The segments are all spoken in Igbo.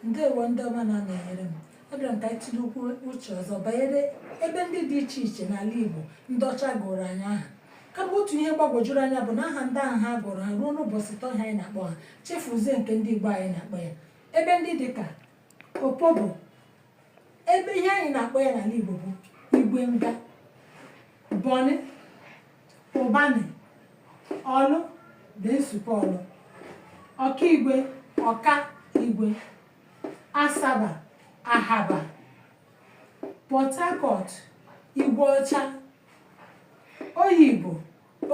ndewo ndị ọma na-anọnyere m abịara m ka anyị tinyekwuo uche ọzọ banyere ebe ndị dị iche iche n'ala Igbo ndị ọcha gụrụ anyị aha kama otu ihe gbagwojuru anya bụ na aha ndị ahụ ha gụrụ ha ruo n'ụbọchị taa ọ ha anyị na-akpọ ha chefuzie nke ndị Igbo anyị na-akpọ ya ebe ndị dị ka opobo ebe ihe anyị na-akpọ ya n'ala Igbo bụ igwe nga bonny ụbanị ọlụ dị nsupe ọlụ ọkaigwe ọka igwe asaba ahaba port harcourt igwe ọcha oyigbo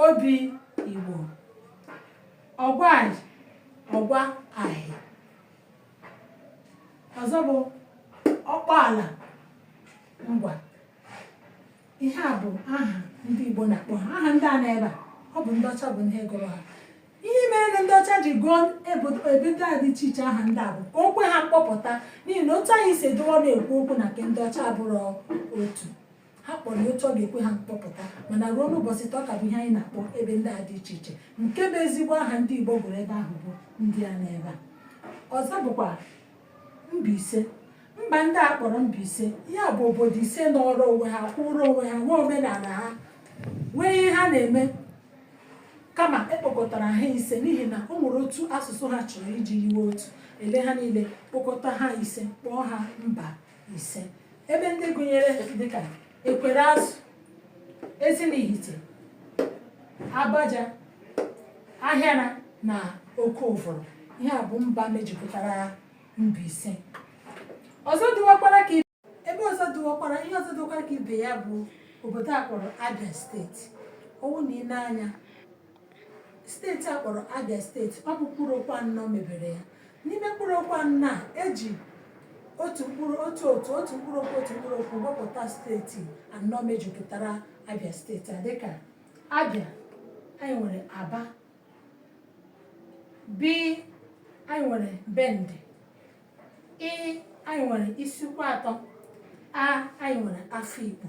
obi igbo ọgwa ọgwa ahị ọzọ bụ ọkpụala ngwa ihe a bụ aha ndị Igbo na-akpọ ha aha ndị a n'ebe a ọ bụ ndị ọcha bụ ndị gụrụ ha ihe mere na ndị ọcha ji gụọ ebe ndị a dị iche iche aha ndị a bụ ka o kwe ha mkpọpụta n'ihi na otu anyị si edowe ọnụ ekwu okwu na nke ndị ọcha abụrọ otu ha kpọrọ ya otu ọ ga-ekwe ha mkpọpụta mana ruo n'ụbọchị taa ọ ka bụ ihe anyị na-akpọ ebe ndị a dị iche iche nke bụ ezigbo aha ndị Igbo gụrụ ebe ahụ bụ ndị a n'ebe a ọzọ bụkwa Mbaise mba ndị a kpọrọ Mbaise ya bụ obodo ise nọọrọ onwe ha kwụrụ onwe ha nwee omenala ha nwee ihe ha na-eme kama e kpokọtara ha ise n'ihi na o nwere otu asụsụ ha chọrọ iji yiwe otu e lee ha niile kpokọta ha ise kpọọ ha mba ise ebe ndị gụnyere dịka ekwereazụ ezinihite agbaja ahịara na oke ụvụrụ ihe a bụ mba mejikọtara Mbaise ọzọ dịwakwara ka ebe ọzọ dịwakwara ihe ọzọ dịwakwara ka ibe ya bụ obodo a kpọrọ Abia steeti ọ wụ na i lee anya steeti a kpọrọ Abia steeti ọ bụ mkpụrụ okwu anọ mebere ya n'ime mkpụrụ okwu anọ a e ji otu mkpụrụ okwu otu mkpụrụ okwu wepụta steeti anọ mejikọtara Abia steeti a dịka Abia anyị nwere Aba B anyị nwere Bende I anyị nwere Isuikwuatọ A anyị nwere Afikpo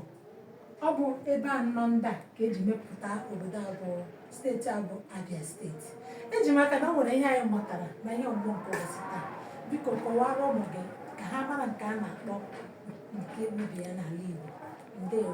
ọ bụ ebe anọ ndị a ka e ji mepụta obodo a bụ steeti a bụ Abia steeti eji m aka na o nwere ihe anyị mụtara na ihe ọgbọ nke ụbọchị taa biko kọwara ụmụ gị ka ha mara nke a na-akpọ nke mbibi ya n'ala Igbo ndewo